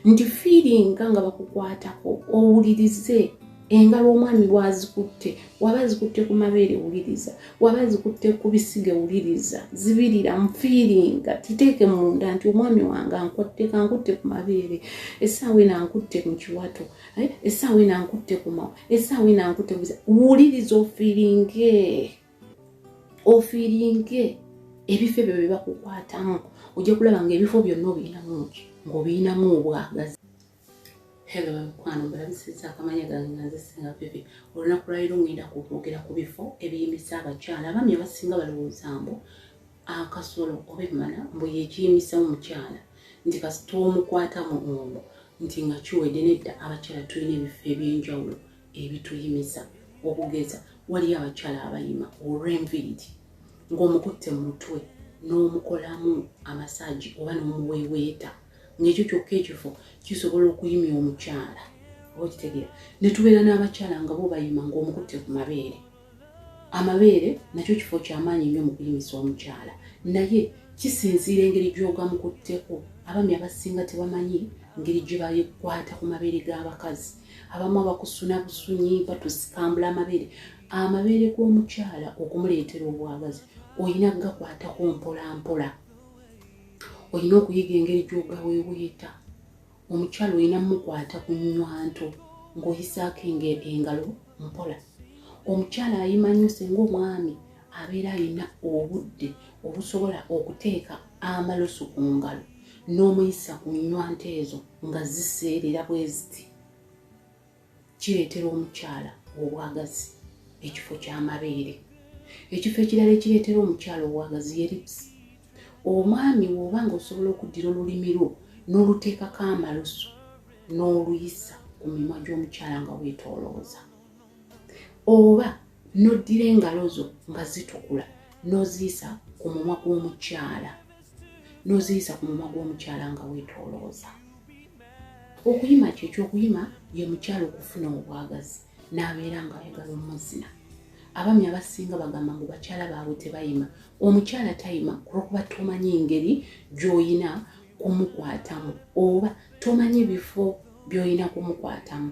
nti fiiringa nga bakukwatako owulirize engalo omwami bwazikutte waba zikutte ku mabeere wuliriza waba zikutte ku bisige wuliriza zibirira mufiiringa titeeke munda nti omwami wange ankotteka nkutte ku mabeere essaawa ena nkutte mu kiwato eh, essaawa ena nkutte ku mawa essaawa ena nkutte wuliriza ofiiringe ofiiringe ebifo ebyo bye bakukwatamu ojja kulaba nga ebifo byonna obiyinamu ki ng'obiyinamu obwagazi helo bamikwano mbalabisiza akamanya gange nga nzisinga bibi olunaku lwaliro ngenda kukwogera ku bifo ebiyimisa abakyala abami abasinga balowooza mbu akasolo oba emmana mbu yekiyimisa omukyala nti kasita omukwatamu omu nti nga kiwedde nedda abakyala tulina ebifo ebyenjawulo ebituyimiza okugeza waliyo abakyala abayima olw'enviiri ng'omukutte mu mutwe n'omukolamu amasaagi oba n'omuweeweeta ng'ekyo kyokka ekifo kisobola okuyimya omukyala oba okitegeera ne tubeera n'abakyala nga bo bayima ng'omukutte ku mabeere amabeere nakyo kifo kyamaanyi nnyo mu kuyimisa omukyala naye kisinziira engeri gy'ogamukutteko abami abasinga tebamanyi ngeri gye bayikwata ku mabeere g'abakazi abamu abakusuna busunyi batusikambula amabeere amabeere g'omukyala okumuleetera obwagazi olina gakwatako mpolampola olina okuyiga engeri gy'ogaweeweeta omukyalo olina mukwata ku nywanto ng'oyisaako engalo mpola omukyala ayimanyuse ng'omwami abeera alina obudde obusobola okuteeka amalusu ku ngalo n'omuyisa ku nywante ezo nga ziseerera bwe ziti kireetera omukyala obwagazi ekifo ky'amabeere ekifo ekirala ekireetera omukyala obwagazi ye lipusi omwami woba nga osobola okuddira olulimi lwo n'oluteekako amalusu n'oluyisa ku mimwa gy'omukyala nga weetoolooza oba n'oddira engalo zo nga zitukula n'oziyisa ku mumwa gw'omukyala n'oziyisa ku mumwa gw'omukyala nga weetoolooza okuyima kyo ekyokuyima ye mukyala okufuna obwagazi n'abeera ng'ayagala omuzina abami abasinga bagamba ngu bakyala baabwe tebayima omukyala tayima kulwokuba tomanyi engeri gy'oyina kumukwatamu oba tomanyi bifo by'oyina kumukwatamu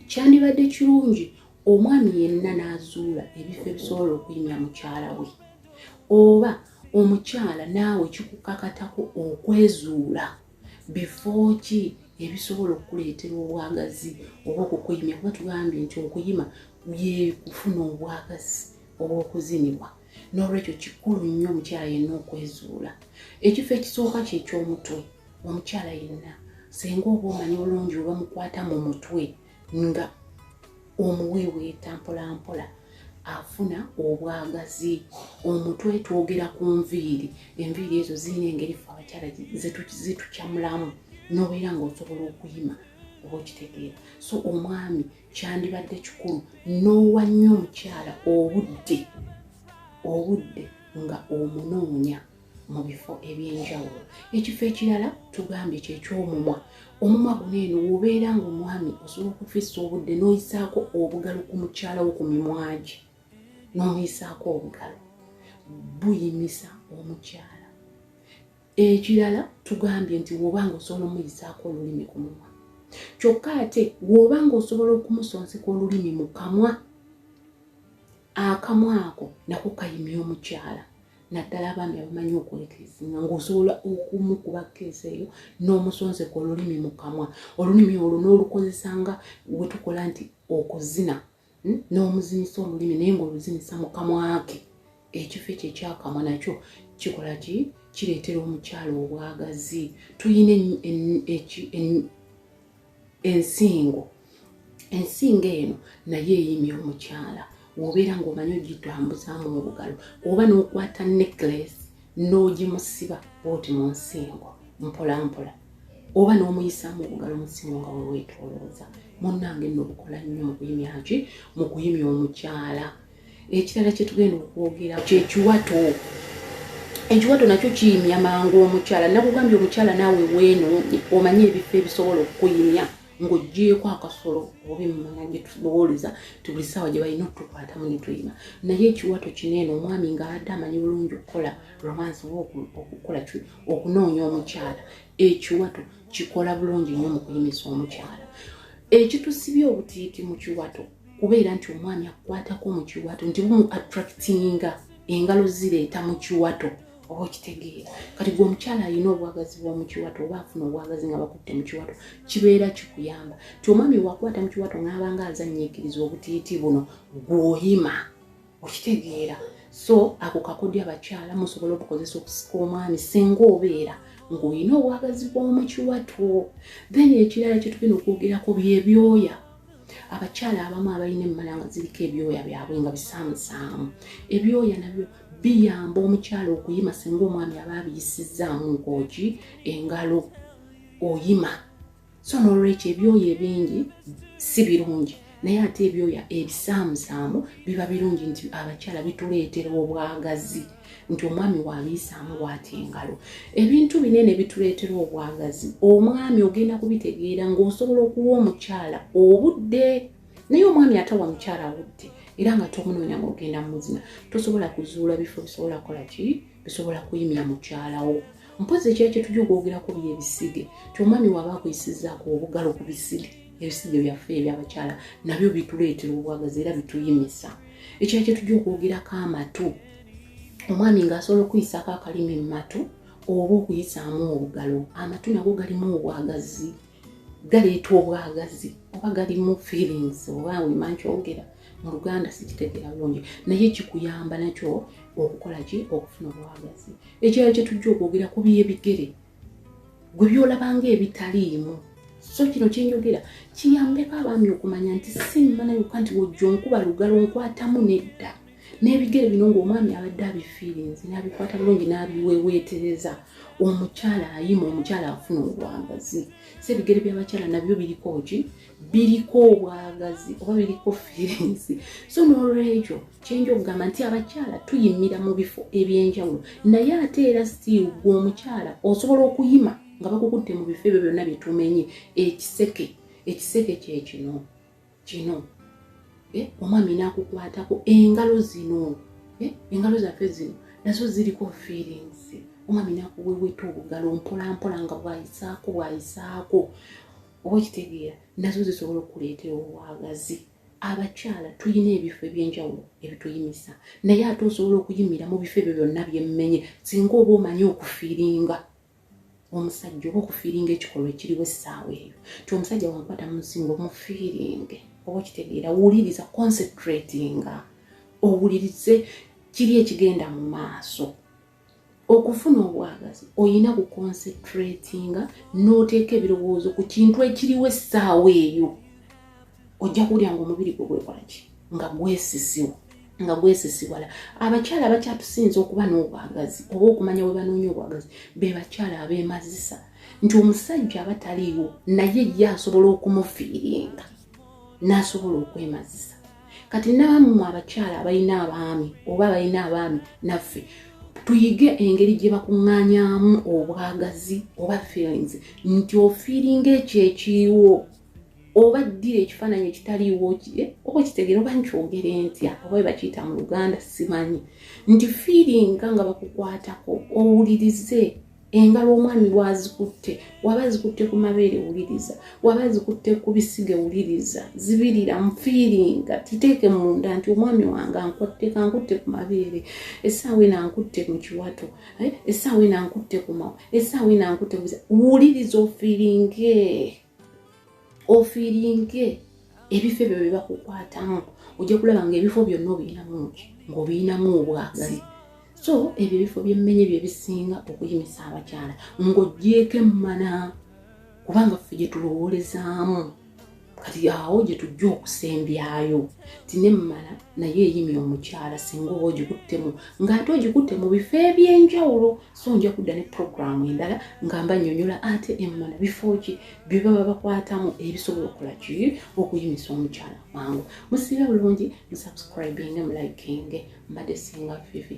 kyandibadde kirungi omwami yenna n'azuula ebifo ebisobola okuyimya mukyala we oba omukyala naawe kikukakatako okwezuula bifo ki ebisobola okukuleetera obwagazi oba okukuyimya kuba tugambye nti okuyima byekufuna obwagazi obw'okuzinibwa n'olwekyo kikulu nnyo omukyala yenna okwezuula ekifo ekisooka kyekyomutwe omukyala yenna senga oba omanyi bulungi oba mukwata mu mutwe nga omuweeweeta mpolampola afuna obwagazi omutwe twogera ku nviiri enviiri ezo zirina engeri fe abakyala zitukyamulamu nobeera ngaosobola okuyima oba okitegeera so omwami kyandibadde kikulu n'owa nnyo omukyala obudde obudde nga omunoonya mu bifo eby'enjawulo ekifo ekirala tugambye kyekyomumwa omumwa guno eno wobeera nga omwami osobola okufisa obudde n'oyisaako obugalo ku mukyala wo ku mimwagi n'omuyisaako obugalo buyimisa omukyala ekirala tugambye nti woba nga osobola omuyisaako olulimi ku mumwa kyokka ate woba nga osobola okumusonseka olulimi mu kamwa akamwa ako nako kayimya omukyala naddala abaami abamanyi okwekeesinga ngaosobola okumukuba keesi eyo n'omusonseka olulimi mu kamwa olulimi olwo n'olukozesa nga wetukola nti okuzina hmm? n'omuzinisa olulimi naye ng'oluzinisa mu kamwake ekifo ekyo ekyakamwa nakyo kikola ki kireetera omukyalo obwagazi tulina ensingo ensingo eno naye eyimya omukyala wobeera ngaomanyi ogitambuzaamu obugalo oba nokwata necklace n'ogimusiba bwoti mu nsingo mpolampola oba n'omuyisaamu okugala omusingo nga weweetolooza munnange nno bukola nnyo mu kuyimyaki mu kuyimya omukyala ekirala kye tugenda okwogera kyekiwato ekiwato nakyo kiyimya mangu omukyala nakugambye omukyala naawe weeno omanye ebifo ebisobola okukuyimya ng'oggyeeko akasolo oba emmana gye tubowooleza ti buli ssaawa gye balina okutukwatamu ne tuyima naye ekiwato kino eno omwami ng'abadde amanyi bulungi okukola romance oba okukola ki okunoonya omukyala ekiwato kikola bulungi nnyo mu kuyimisa omukyala ekitusibye obutiiti mu kiwato kubeera nti omwami akukwatako mu kiwato nti bumu attractinga engalo zireeta mu kiwato oba okitegeera kati gwe omukyala alina obwagazi bwa mukiwato oba afuna obwagazi nga bakutte mukiwato kibeera kikuyamba ti omwami wakwata mukiwato ngaabanga azanyiikiriza obutiiti buno gwoyima okitegeera so ako kakodya abakyala musobola okukozesa okusika omwami singa obeera ng'olina obwagazi bw'omukiwato then ekirala kyetugenda okwogerako byebyoya abakyala abamu abalina emmala nga ziriko ebyoya byabwe nga bisaamusaamu ebyoya nabyo biyamba omukyala okuyima singa omwami aba abiyisizzaamu nkooki engalo oyima so nolwekyo ebyoyo ebingi si birungi naye ate ebyoya ebisaamusaamu biba birungi nti abakyala bituleetera obwagazi nti omwami wabiyisaamu waati engalo ebintu binene bituleetera obwagazi omwami ogenda kubitegeera ng'osobola okuwa omukyala obudde naye omwami atawa mukyala awudde era nga tomunoonya ngaogenda mumuzina tosobola kuzuula bifo bisobola kukola ki bisobola kuyimya mukyalawo mpozi ekyali kyetujja okwogerako bye ebisige ti omwami waba akuyisizaako obugalo ku bisige ebisige byaffe ebyabakyala nabyo bituleetera obwagazi era bituyimisa ekyali kyetujja okwogerako amatu omwami ngaasobola okuyisako akalimi mu matu oba okuyisaamu obugalo amatu nago galimu obwagazi galeeta obwagazi oba galimu feelings oba wema nkyogera mu luganda sikitegeera bulungi naye kikuyamba nakyo okukola ki okufuna obwagazi ekirala kye tujja okwogera ku byebigere gwe byolabanga ebitaliimu so kino kyenjogera kiyambeko abaami okumanya nti si mmana yokka nti wojja onkuba lugalo nkwatamu nedda n'ebigere bino ng'omwami abadde abifiirinzi n'abikwata bulungi n'abiweweetereza omukyala ayima omukyala afuna obwagazi so ebigere by'abakyala nabyo biriko ki biriko obwagazi oba biriko fiirinzi so n'olwekyo kyenja okugamba nti abakyala tuyimira mu bifo eby'enjawulo naye ate era stiiru gwe omukyala osobola okuyima nga bakukutte mu bifo ebyo byonna byetumenye ekiseke ekiseke kyekino kino eh, omwami nakukwatako engalo zino eh, engalo zaffe zino nazo ziriko feelings omwami nakuweweta obugalo mpolampola nga bwayisaako bwayisaako oba okitegeera nazo zisobola okuleetera obwagazi abakyala tulina ebifo ebyenjawulo ebituyimisa naye ate osobola okuyimira mu bifo ebyo byonna byemmenye singa oba omanyi okufiiringa omusajja oba okufiiringa ekikolwa ekiriwo essaawa eyo ti omusajja wankwata munsinga omufiiringe oba okitegeera wuliriza concentratinga owulirize kiri ekigenda mu maaso okufuna obwagazi olina kuconcentratinga n'oteeka ebirowoozo ku kintu ekiriwo essaawa eyo ojja kuwulira nga omubiri gwe gwekolaki nga gwesisiwa nga gwesisiwala abakyala abakyatusinza okuba n'obwagazi oba okumanya bwe banoonya obwagazi be bakyala abeemazisa nti omusajja aba taliiwo naye ye asobola okumufiiringa n'asobola okwemazisa kati naamwe abakyala abalina abaami oba abalina abaami naffe tuyige engeri gye bakuŋŋanyamu obwagazi oba feelings nti ofiiringa ekyo ekiriwo oba ddira ekifaananyi ekitaliiwo kye eh, oba okitegere oba nkyogere ntya oba webakiyita mu luganda simanyi nti fiiringa nga bakukwatako owulirize engalo omwami wazikutte waba zikutte ku mabeere wuliriza waba zikutte ku bisige wuliriza zibirira mufiiringa titeeke munda nti omwami wange ankotteka nkutte ku mabeere essaawa ena nkutte mu kiwato eh, essaawa ena nkutte ku mawa essaawa ena nkutte ku wuliriza ofiiringe ofiiringe ebifo ebyo bye bakukwatamu ojja kulaba nga ebifo byonna obiyinamu ki ng'obiyinamu obwagazi so ebyo ebifo byemmenye bye bisinga okuyimisa abakyala ng'ogyeko emmana kubanga ffe gye tulowoolezaamu kati awo gye tujja okusembyayo ti nemmala naye eyimya omukyala singa oba ogikuttemu ng'ate ogikutte mu bifo eby'enjawulo so nja kudda ne puroguramu endala nga mba nyonyola ate emmana bifo ki bye baba bakwatamu ebisobola okukola ki okuyimisa omukyala mangu musiibe bulungi musubscribinge mulikinge mbadde singa fifi